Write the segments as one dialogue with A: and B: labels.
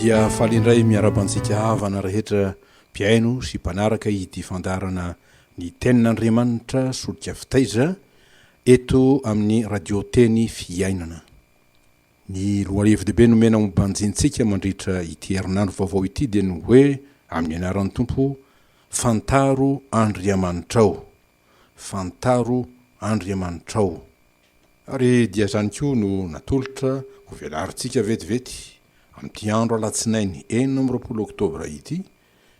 A: dia faly indray miaraba antsika havana rehetra mpihaino sy mpanaraka ity fandarana ny tenin'andriamanitra solika fitaiza eto amin'ny radio teny fiainana Ny lohahevi-dehibe nomena ho banjintsika mandritra ity herinandro vaovao ity dia ny hoe, amin'ny anaran'ny Tompo, Fantaro Andriamanitrao! Fantaro Andriamanitrao! Ary dia izany koa no natolotra ho velarintsika vetivety amin'ity andro alatsinainy enina amby roapolo oktobra ity,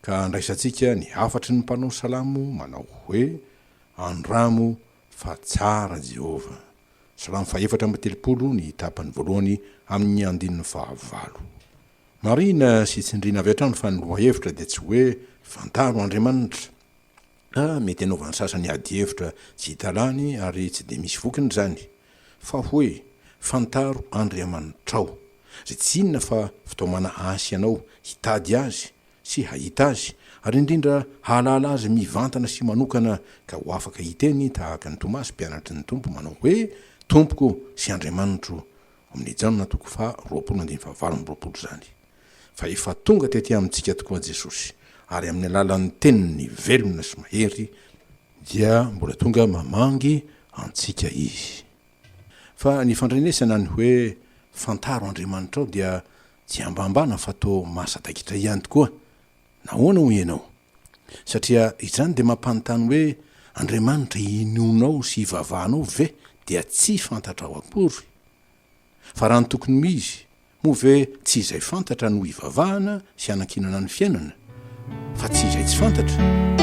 A: ka andraisantsika ny hafatry ny mpanao salamo manao hoe, Andramo Fa tsara Jehovah. Salamo fahefatra amby telopolo, ny tapany voalohany amin' ny andininy fahavalo. Marihina sy tsindriana avy hatrany fa ny lohahevitra dia tsy hoe fantaro Andriamanitra. A Mety hanaovan' ny sasany adihevitra tsy hita lany ary tsy dia misy vokiny izany. Fa hoe fantaro Andriamanitrao. Izay tsy inona fa fitaomana asy anao hitady Azy sy hahita Azy, ary indrindra hahalala Azy mivantana sy manokana, ka ho afaka hiteny tahaka an'i Tomasy mpianatry ny Tompo manao hoe, Tompoko sy Andriamanitro, Amin'ny Jaona toko faha roapolo andininy faha valo amby roapolo izany. Fa efa tonga tety amintsika tokoa Jesosy, ary amin'ny alalan'ny Teniny velona sy mahery, dia mbola tonga mamangy antsika Izy. Fa ny fandrenesana ny hoe, Fantaro Andriamanitrao dia Tsy ambambana fa toa mahasadaikitra ihany tokoa. Nahoana hoy ianao? Satria izany dia mampanontany hoe Andriamanitra inoanao sy ivavahanao ve dia tsy fantatrao akory? Fa raha ny tokony ho izy, moa ve tsy izay fantatra no ivavahana sy anankinana ny fiainana? fa tsy izay tsy fantatra.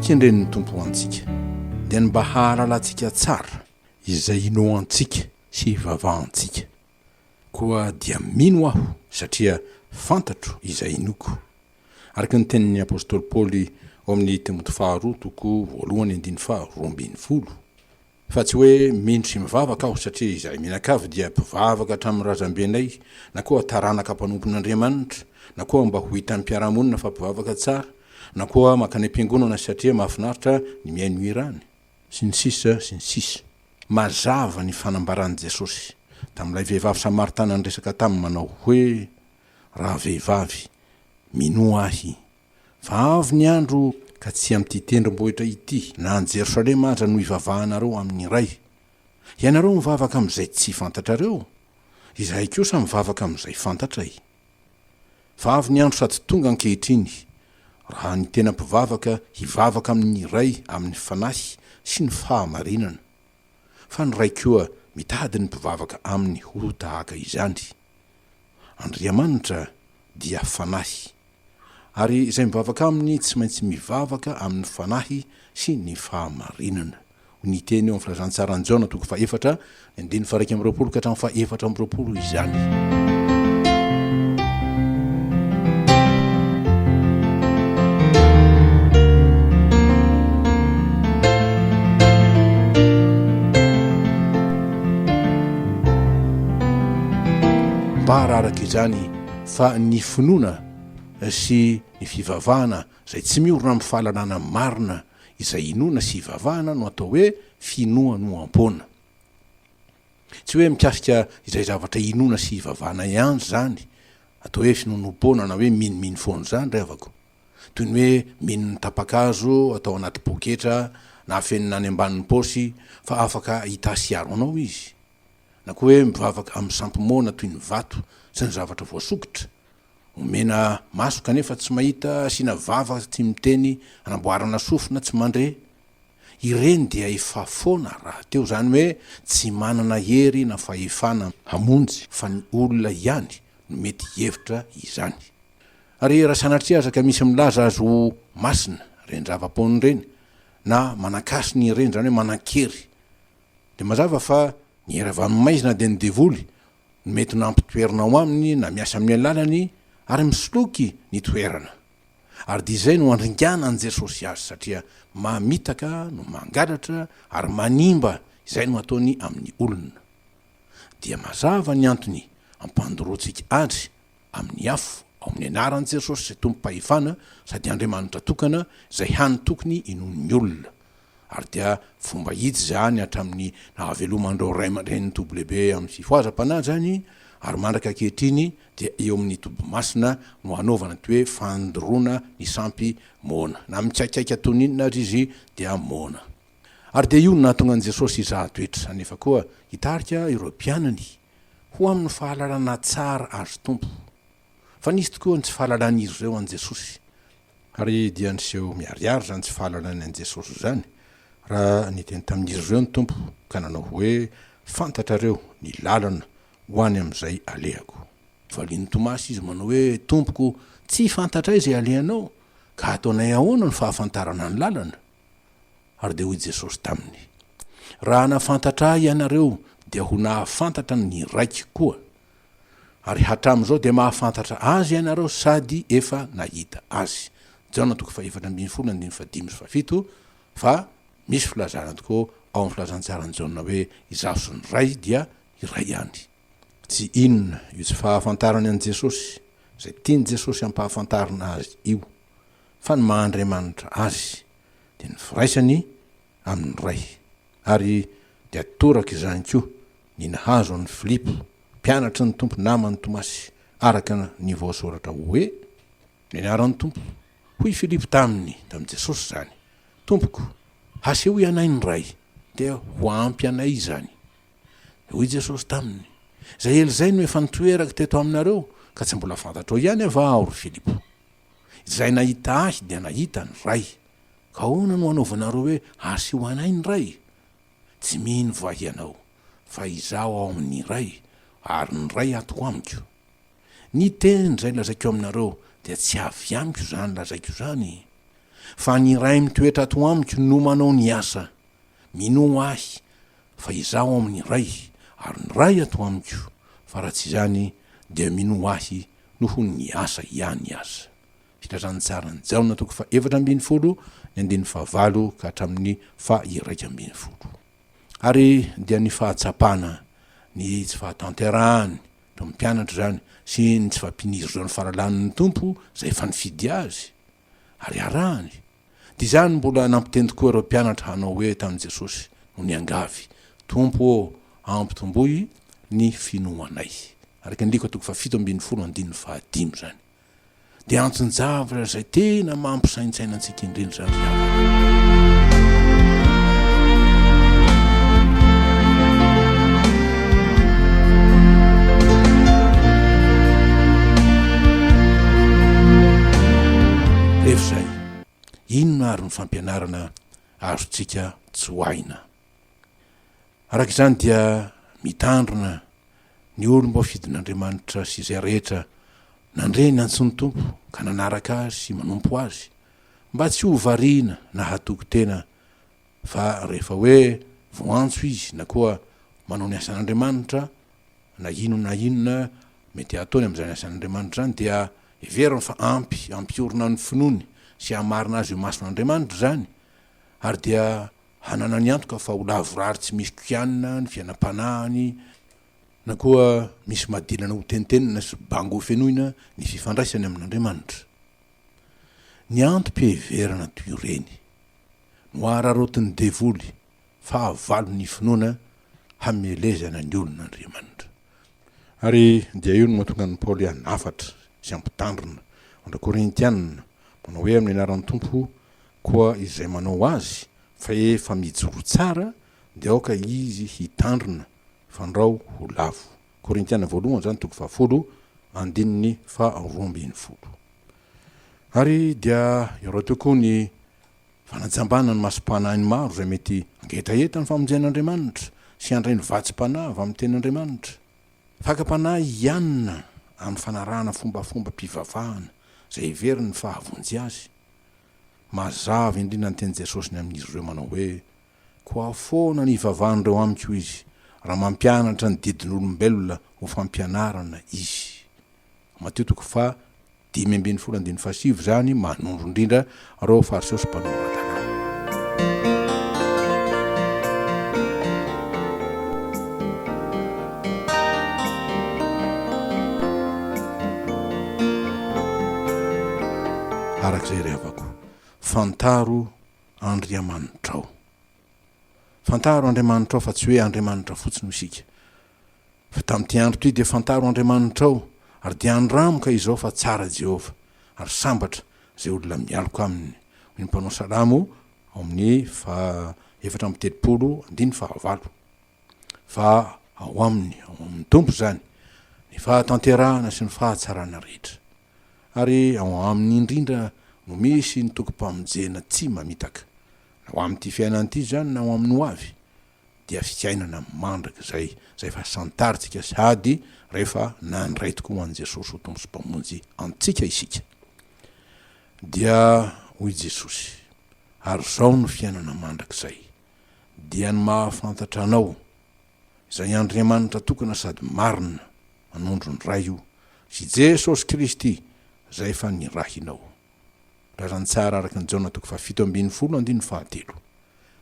A: kendren'ny tompo ho antsika dia ny mba hahalalantsika tsara izay inoantsika sy hivavahantsika Koa dia mino aho, satria fantatro izay inoako. Araka ny tenin'ny apostoly Paoly ao amin'ny Timoty faharoa toko voalohany andininy faha roa ambin'ny folo, Fa tsy hoe mino sy mivavaka aho, satria izahay mianakavy dia mpivavaka hatramin'ny razambenay, na koa taranaka mpanompon'Andriamanitra, na koa mba ho hitan'ny mpiara-monina fa mpivavaka tsara, na koa mankany am-piangonana satria mahafinaritra ny mihaino hira any. Sy ny sisa, sy ny sisa. Mazava ny fanambaran'i Jesosy tamin'ilay vehivavy Samaritana niresaka taminy manao hoe, Raha vehivavy, minoa Ahy, fa avy ny andro ka tsy amin'ity tendrombohitra ity na any Jerosalema aza no hivavahanareo amin'ny Ray. Ianareo mivavaka amin'izay tsy fantatrareo, Izahay kosa mivavaka amin'izay fantatray. Fa avy ny andro sady tonga ankehitriny, raha ny tena mpivavaka hivavaka amin' ny Ray amin' ny Fanahy sy ny fahamarinana, fa ny Ray koa mitady ny mpivavaka Aminy ho tahaka izany. Andriamanitra dia Fanahy, ary izay mivavaka Aminy tsy maintsy mivavaka amin' ny Fanahy sy ny fahamarinana. Ny teny eo amin'ny Filazantsaran'i Jaona toko fahefatra, ny andininy faha-iraika amby roapolo ka hatramin'ny faha-efatra amby roapolo izany. Mba araraka izany fa ny finoana sy ny fivavahana Izay tsy miorina amin'ny fahalalana marina izay inoana sy ivavahana no atao hoe finoanoam-poana. Tsy hoe mikasika izay zavatra inoana sy ivavahana ihany izany, atao hoe finoanoam-poana na hoe minomino foana izany ry havako. Toy ny hoe mino ny tapa-kazo atao anaty poketra na afenina any ambanin'ny paosy fa afaka hita sy hiaro anao izy. Na koa hoe mivavaka amin'ny sampy moana toy ny vato sy ny zavatra voasokitra. Omena maso kanefa tsy mahita, asiana vava tsy miteny, anamboarana sofina tsy mandre. Ireny dia efa foana rahateo, izany hoe tsy manana hery na fahefana hamonjy fa ny olona ihany no mety hihevitra izany. Ary raha sanatria aza ka misy milaza azy ho masina ireny zava-poana ireny na manan-kasina ireny, izany hoe manan-kery, dia mazava fa ny hery avy amin'ny maizina dia ny devoly ny mety nampitoerina ao aminy na miasa amin'ny alalany ary misoloky ny toerana. Ary dia izay no andringana an'i Jesosy azy satria mamitaka no mangalatra ary manimba izay no ataony amin'ny olona. Dia mazava ny antony ampandoroantsika adry amin'ny afo, ao amin'ny anaran'i Jesosy izay tompom-pahefana sady Andriamanitra tokana izay hany tokony inoan'ny olona. Ary dia fomba hita izany hatramin'ny nahaveloman'ireo ray aman-drenin'i WB amin'ny fifohazam-panahy izany ary mandraka ankehitriny dia eo amin'ny toby masina no hanaovana ity hoe fandoroana ny sampy moana na mikaikaika toy ny inona aza izy dia moana. Ary dia io no nahatonga an'i Jesosy hizaha toetra nefa koa hitarika ireo mpianany ho amin'ny fahalalana tsara Azy Tompo, fa nisy tokoa ny tsy fahalalan'izy ireo an'i Jesosy, ary dia niseho miharihary izany tsy fahalalany an'i Jesosy izany, raha niteny tamin'izy ireo ny Tompo ka nanao hoe, Fantatrareo ny lalana ho any amin'izay alehako. Valian'i Tomasy Izy manao hoe, Tompoko, tsy fantatray izay alehanao, ka ataonay ahoana no fahafantarana ny lalana? Ary dia hoy Jesosy taminy, Raha hanafantatra Ahy ianareo, dia ho nahafantatra ny Raiko koa. Ary hatramin'izao dia mahafantatra Azy ianareo sady efa nahita Azy. Jaona toko fahefatra ambin'ny folo andininy fahadimy sy fahafito, Fa misy filazana tokoa ao amin'ny Filazantsaran'i Jaona hoe Izaho sy ny Ray dia iray ihany. Tsy inona io tsy fahafantarany an'i Jesosy, izay tian'i Jesosy hampahafantarina Azy io, fa ny maha Andriamanitra Azy, dia ny firaisany amin'ny Ray. Ary dia toraka izany koa ny nahazo an'i Filipo, mpianatry ny Tompo naman'i Tomasy, araka ny voasoratra hoe, Nianara ny Tompo. Hoy Filipo taminy, tamin'i Jesosy izany, Tompoko, hasehoy anay ny Ray, dia ho ampy anay izany. Dia hoy Jesosy taminy, Izay ela izay no efa nitoerako teto aminareo, ka tsy mbola fantatrao ihany va Aho, ry Filipo? Izay nahita Ahy dia nahita ny Ray. Ka ahoana no hanaovanareo hoe Asio anay ny Ray? Tsy mino va hianao fa Izaho ao amin' ny Ray ary ny Ray ato amiko? Ny teny izay lazaiko aminareo dia tsy avy amiko izany lazaiko izany, fa ny Ray mitoetra ato amiko no manao ny asa. Minoa Ahy fa Izaho ao amin' ny Ray ary ny Ray ato amiko, fa raha tsy izany dia minoa Ahy noho ny asa ihany aza. Filazantsaran'i Jaona toko fahefatra ambin'ny folo ny andininy fahavalo ka hatramin'ny faha-iraika ambin'ny folo. Ary dia ny fahatsapana ny tsy fahatanterahan'ny tomom-pianatra izany sy ny tsy fampinizozan'ny faralanin'ny Tompo izay efa nifidy azy ary arahany, Dia izany mbola nampiteny tokoa ireo mpianatra hanao hoe tamin'i Jesosy, no niangavy, Tompo ô, ampitomboy ny finoanay. Araka ny Lika toko fahafito ambin'ny folo andininy fahadimy izany. Dia anton-javatra izay tena mampisaintsaina antsika indrindra izany ry havana. Inona àry ny fampianarana azontsika tsoahina? Araka izany, dia mitandrina ny olom-boafidin'Andriamanitra sy izay rehetra nandre ny antson'ny Tompo ka nanaraka azy sy manompo azy, mba tsy ho variana na hatoky tena Fa rehefa hoe voantso izy na koa manao ny asan'Andriamanitra, na inona na inona mety hataony amin'izany asan'Andriamanitra izany, dia heveriny fa ampy hampiorina ny finoany sy hamarina azy eo imason'Andriamanitra izany, ary dia hananany antoka fa ho lavorary tsy misy kianina ny fiainam-panahiny na koa misy madilana hotentenina sy bango hofenoina ny fifandraisany amin'Andriamanitra. Ny antom-piheverana toy ireny. Nohararaotin'ny devoly fahavalo ny finoana hamelezana ny olon'Andriamanitra. Ary dia io no mahatonga an'i Paoly hanafatra sy hampitandrina andry Korintiana, manao hoe amin'ny anaran'ny Tompo koa izay manao azy fa efa mijoro tsara dia aoka izy hitandrina fandrao ho lavo. Korintiana voalohany izany toko fahafolo andininy faharoa ambin'ny folo. Ary dia eo rahateo koa ny fanajambana ny masom-panahin'ny maro izay mety hangetaheta ny famonjen'Andriamanitra sy handray ny vatsim-panahy avy amin'ny Tenin'Andriamanitra. Fakam-panahy hianina amin'ny fanarahana fombafombam-pivavahana izay heveriny fa hahavonjy azy. Mazava indrindra ny tenin'i Jesosy ny amin'izy ireo manao hoe, Koa foana ny ivavan'ireo amiko izy, raha mampianatra ny didin'olombelona ho fampianarana izy. Matio toko faha dimy ambin'ny folo andininy faha sivy izany manondro indrindra ireo Fariseo sy Mpanomran-dalàna. Araka izay revako, fantaro Andriamanitrao. Fantaro Andriamanitrao fa tsy hoe Andriamanitra fotsiny hoy isika. Fa tamin'ity andro ity dia fantaro Andriamanitrao ary dia andramo ka izao fa tsara Jehovah ary sambatra izay olona mialoka aminy hoy ny mpanao salamo ao amin'ny faha efatra amby telopolo andininy faha valo. Fa ao aminy, ao amin'ny Tompo izany, ny fahatanterahana sy ny fahatsarana rehetra. ary ao aminy indrindra no misy ny tokim-pamonjena tsy mamitaka, na ho amin'ity fiainana ity izany na ho amin'ny ho avy, dia fiainana mandrakizay izay efa santarintsika sady rehefa nandray tokoa an'i Jesosy ho Tompo sy Mpamonjy antsika isika. Dia hoy Jesosy, Ary izao no fiainana mandrakizay, dia ny mahafantatra Anao, izay Andriamanitra tokana sady marina, manondro ny Ray io, sy Jesosy Kristy izay efa nirahinao. Razantsara araka ny Jaona toko fahafito ambin'ny folo andininy fahatelo.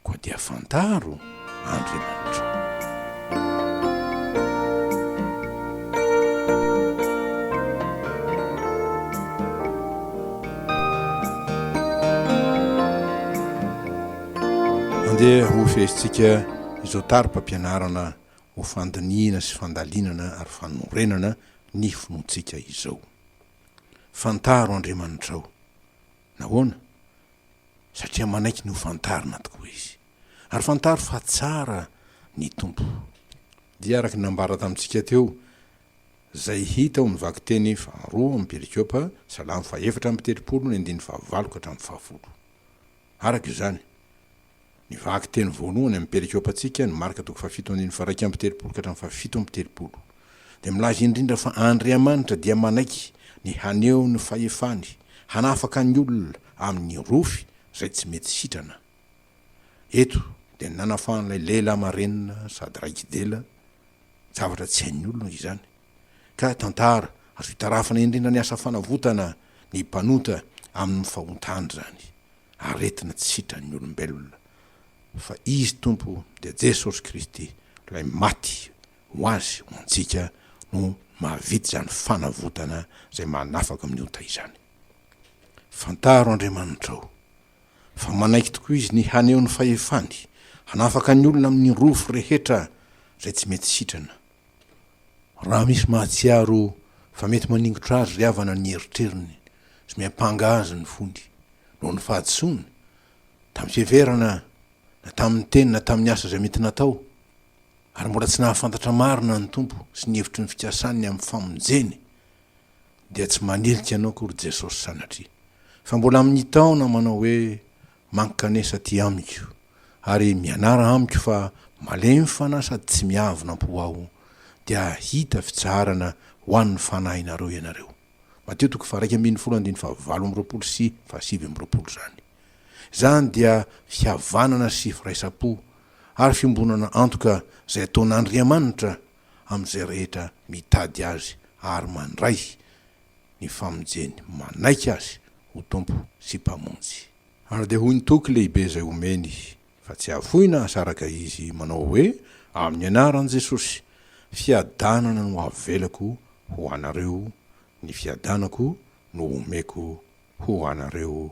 A: Koa dia fantaro Andriamanitra. Andeha ho fehezintsika izao tari-pampianarana ho fandinihina sy fandalinana ary fanorenana ny finoantsika izao. Fantaro Andriamanitrao. Nahoana? Satria manaiky ny hofantarina tokoa Izy. Ary fantaro fa tsara ny Tompo. Dia araka ny nambara tamintsika teo, izay hita ao amin'ny vakiteny faharoa amin'ny Perikôpa, Salamo fahaefatra amby telopolo ny andininy fahavalo ka hatramin'ny fahafolo. Araka izany, ny vakiteny voalohany amin'ny perikôpantsika no Marka toko fahafito andininy faha-iraika amby telopolo ka hatramin'ny fahafito amby telopolo, dia milaza indrindra fa Andriamanitra dia manaiky ny haneho ny fahefany hanafaka ny olona amin'ny rofy izay tsy mety sitrana. Eto dia ny nanafahan'ilay lehilahy marenina sady raiki-dela, zavatra tsy hain'ny olona izany. ka tantara azo itarafana indrindra ny asa fanavotana ny mpanota amin'ny fahontany izany aretina tsy sitran'ny olombelona, fa Izy Tompo dia Jesosy Kristy Ilay maty ho azy ho antsika no mahavita izany fanavotana izay manafaka amin'ny ota izany. Fantaro Andriamanitrao fa manaiky tokoa Izy ny haneho ny fahefany hanafaka ny olona amin'ny rofy rehetra izay tsy mety sitrana Raha misy mahatsiaro fa mety maningotra azy ry havana ny eritreriny sy miampanga azy ny fony noho ny fahadisoany, tamin'ny fiheverana na tamin'ny teny na tamin'ny asa izay mety natao, ary mbola tsy nahafantatra marina ny Tompo sy ny hevitry ny fikasany amin'ny famonjeny, dia tsy manilika anao akory Jesosy sanatria, fa mbola mitaona manao hoe, Mankanesa aty amiko ary mianara amiko fa malemy fanahy sady tsy miavona am-po aho dia hahita fitsaharana ho an'ny fanahinareo ianareo. Mateo toko faharaika ambin'ny folo andininy fahavalo amby roapolo sy fahasivy amby roapolo izany. Izany dia fihavanana sy firaisam-po ary fiombonana antoka izay ataon'Andriamanitra amin'izay rehetra mitady Azy ary mandray ny famonjeny manaiky Azy ho Tompo sy Mpamonjy. Ary dia hoy ny toky lehibe izay omeny fa tsy hafoina aza araka izy manao hoe, Amin'ny anaran'i Jesosy, fiadanana no avelako ho anareo, ny fiadanako no omeko ho anareo.